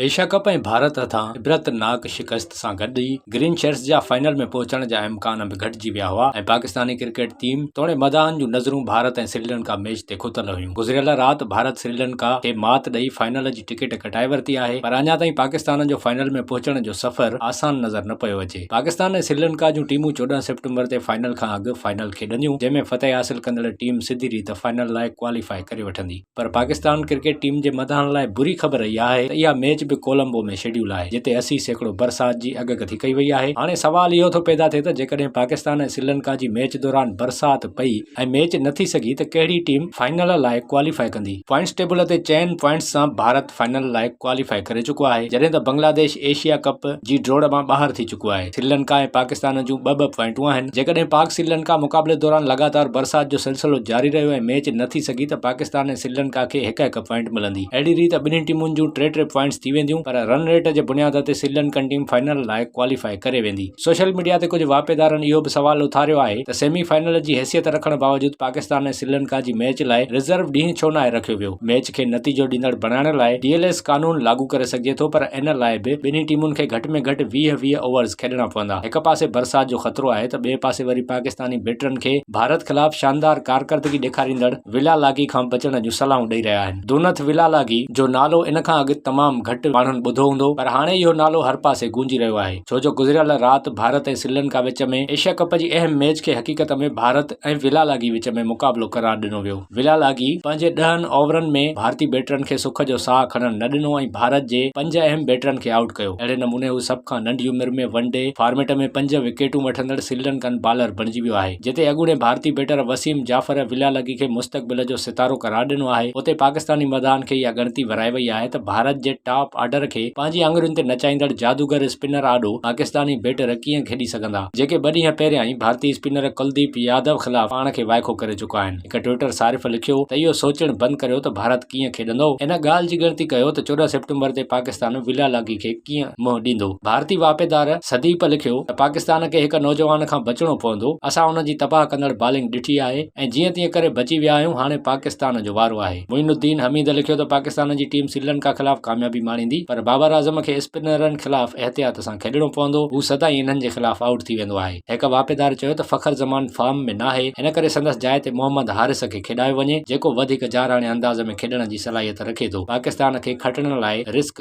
Asia cup ۽ Bharat هٿان عبرتناڪ شڪست سان گڏ ئي گرين شرٽس جا فائنل ۾ پهچڻ جا امڪان به گهٽجي ويا هئا ۽ پاڪستاني ڪرڪيٽ ٽيم توڻي مداحن جون نظرون ڀارت ۽ سريلنڪا ميچ تي کتل هيون گذريل رات ڀارت سريلنڪا کي مات ڏئي فائنل جي ٽڪيٽ ڪٽائي ورتي آهي پر اڃا تائين پاڪستان جو فائنل ۾ پهچڻ جو سفر آسان نظر نه پيو اچي پاڪستان ۽ سريلنڪا جون ٽيمون چوڏهن سيپٽمبر تي فائنل کان اڳ فائنل کيڏنديون جنهن ۾ فتح حاصل ڪندڙ ٽيم سڌي ريت فائنل لاء ڪواليفاء ڪري وٺندي. پر پاڪستان ڪرڪيٽ ٽيم جي مداحن لاء بري خبر اها آهي ته اها ميچ به ڪولمبو ۾ شيڊيول آهي جتي اسي سيڪڙو برسات جي اڳڪٿي ڪئي وئي آهي هاڻي سوال اهو ٿو پيدا ٿئي ته جيڪڏهن پاڪستان ۽ سريلنڪا جي ميچ دوران برسات پئي ۽ ميچ نه ٿي سگهي ته ڪهڙي ٽيم فائنل لاء ڪواليفاء ڪندي پوائنٽس ٽيبل تي چئن پوائنٽس سان ڀارت فائنل لاء ڪواليفاء ڪري چڪو آهي، جڏهن ته بنگلاديش ايشيا ڪپ جي ڊوڙ مان ٻاهر ٿي چڪو آهي. سريلنڪا ۽ پاڪستان جون ٻه ٻه پوائنٽون آهن، جيڪڏهن پاڪ سريلنڪا مقابلي دوران لڳاتار برسات جو سلسلو جاري رهيو ۽ ميچ نه ٿي سگهي ته پاڪستان ۽ سريلنڪا کي هڪ هڪ پوائنٽ ملندي، اهڙي ريت ٻنهي ٽيمن جون ٽي ٽي پوائنٽس ٿي وينديون، پر رن ريٽ جي بنياد تي سريلنڪن ٽيم فائنل لاء ڪواليفاء ڪري ويندي. سوشل ميڊيا تي ڪجهه واهپيدارن اهو به سوال اٿاريو آهي ته سيمي فائنل جي حيثيت رکڻ باوجود پاڪستان ۽ سريلنڪا جي ميچ لاء رزرو ڏينهن ڇو ناهي رکيو ويو؟ ميچ کي نتيجو ڏيندڙ بڻائڻ لاء ڊي ايل ايس قانون لاڳو ڪري سگهجي ٿو پر ان لاء به ٻنهي ٽيمن کي گهٽ ۾ گهٽ ويهه ويهه اوورز کيڏڻا پوندا. هڪ پاسي برسات جو خطرو آهي ته ٻئي پاسي وري پاڪستاني بيٽرن کي ڀارت خلاف شاندار ڪارڪردگي ڏيکاريندڙ ولا لاگي کان بچڻ جون صلاحون ڏئي رهيا آهن. دونٿ ولا لاگي جو نالو ان کان اڳ تمام گهٽ ماڻهن ٻڌو هوندو پر هاڻي اهو نالو هر پاسي گونجي رهيو آهي ڇو جو گذريل رات ڀارت ۽ سري لنڪا وچ ۾ ايشيا ڪپ جي اهم ميچ کي حقيقت ۾ ڀارت ۽ ولا لاگي وچ ۾ مقابلو قرار ڏنو ويو ولا لاگي پنهنجي ڏهن اوورن ۾ ڀارتي بيٽرن کي سک جو ساهه کڻڻ نه ڏنو ۽ ڀارت جي پنج اهم بيٽرن کي آئوٽ ڪيو اهڙي نموني هو سڀ کان ننڍي عمر ۾ ون ڊي فارميٽ ۾ پنج وڪيٽون وٺندڙ سري لنڪن بالر بڻجي ويو آهي. جتي اڳوڻي ڀارتي بيٽر وسيم جعفر ولا لگي کي مستقبل جو ستارو قرار ڏنو آهي، اتي پاڪستاني مداحن کي اها ڳڻتي ورهائي وئي آهي ته ڀارت جي ٽاپ آرڊر کي پنهنجي آڱرين تي نچائيندڙ جادوگر اسپنر آڏو پاڪستاني بيٽر ڪيئن کيڏي سگهندا، جيڪي ٻه ڏينهن پهريان ئي ڀارتي اسپنر ڪلديپ يادو خلاف پاڻ کي وائکو ڪري چڪا آهن. هڪ ٽوئيٽر صارف لکيو ته اهو سوچڻ بند ڪريو ته ڀارت ڪيئن کيڏندو، ان ڳالهه جي ڳڻتي ڪيو ته چوڏهن سيپٽمبر تي پاڪستان ولا لگي کي. ڪيئن منهن ڏيندو؟ ڀارتي واهپيدار سديپ لکيو ته پاڪستان کي هڪ نوجوان کان بچڻو پوندو، اسان ان جي تباهه ڪندڙ بالنگ ڏٺي آهي ۽ جيئن تيئن ڪري بچي ويا آهيون، هاڻي پاڪستان جو وارو آهي. معين الدين حميد لکيو ته پاڪستان جي ٽيم سريلنڪا خلاف ڪاميابي ماڻيندي پر بابر اعظم کي اسپنرن خلاف احتياط سان کيڏڻو پوندو، هو سدائين انهن جي خلاف آئوٽ ٿي ويندو آهي. هڪ واهپيدار چيو ته فخر زمان فارم ۾ ناهي، ان ڪري سندس جاء تي محمد حارث کي کيڏايو وڃي، جيڪو وڌيڪ جارحاڻي انداز ۾ کيڏڻ جي صلاحيت رکي ٿو، پاڪستان کي کٽڻ لاء رسڪ.